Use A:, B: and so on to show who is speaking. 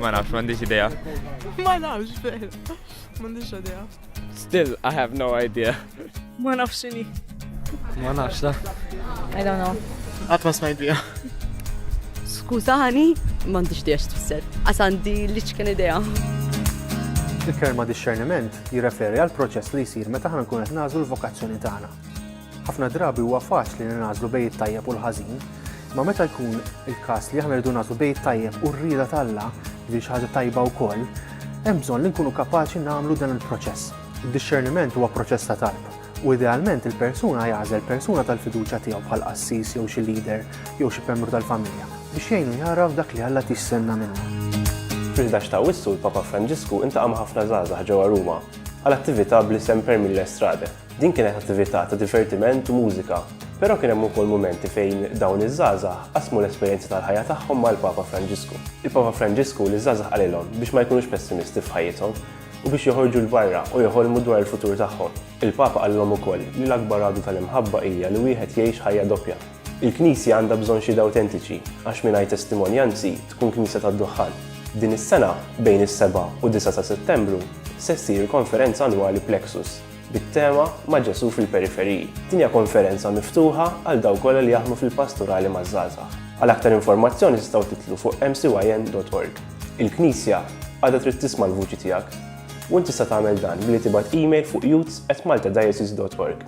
A: Ma nafx, m'għandix idea. Ma nafx, veru. M'għandix idea. Still, I have no idea. Ma nafx xini. Ma nafx, da. I don't know. Għat ma smajt bija. Skużani, m'għandix idea x'tfisser. Għas għandi li ċken idea. Il-kelma discerniment jirreferi għal proċess li jsir meta ħna nkun qed nagħżlu l-vokazzjoni tagħna. Ħafna drabi huwa faċli li nagħżlu bejn it-tajjeb u l-ħażin, imma meta jkun il-każ li aħna rridu nagħżlu bejn it-tajjeb u r-rieda t'Alla, jiġifieri xi ħaġa tajba wkoll, hemm bżonn li nkunu kapaċi nagħmlu dan il-proċess. Id-dixxerniment huwa proċess ta' talb, u idealment il-persuna jagħżel persuna tal-fiduċja tiegħu bħal qassis jew xi leader jew xi membru tal-familja biex jgħinu jagħraf dak li Alla qed jistenna minnu. Fil-ħdax ta' Awwissu l-Papa Franġisku iltaqa' ma' ħafna żgħażagħ ġewwa Ruma għal attività bl-isem Per Mille Strade. Din kienet attività ta' divertiment u mużika, però kien hemm ukoll mumenti fejn dawn iż-żgħażagħ qasmu l-esperjenzi tal-ħajja tagħhom mal-Papa Franġisku. Il-Papa Franġisku liż-żgħażagħ qalilhom biex ma jkunux pessimisti f'ħajjithom u biex joħorġu 'l barra u jħolmu dwar il-futur tagħhom. Il-Papa qalilhom ukoll li l-akbar għadu tal-imħabba hija li wieħed jgħix ħajja doppja. Il-Knisja għandha bżonn xhieda awtentiċi għax mingħajr testimonjanzi tkun knisja tad-duħħan. Din is-sena, bejn is-seba' u d-disa' ta' Settembru, se ssir il-konferenza annwali Plexus. bit-tema Ma' Ġesù fil-Periferiji. Din hija konferenza miftuħa għal dawk kollha li jaħdmu fil-Pastorali maż-Żgħażagħ. Għal aktar informazzjoni tistgħu tidħlu fuq mcyn.org. Il-Knisja għadha trid tisma' l-vuċi tiegħek. U int tista' tagħmel dan billi tibgħat email fuq youths@maltadiocese.org.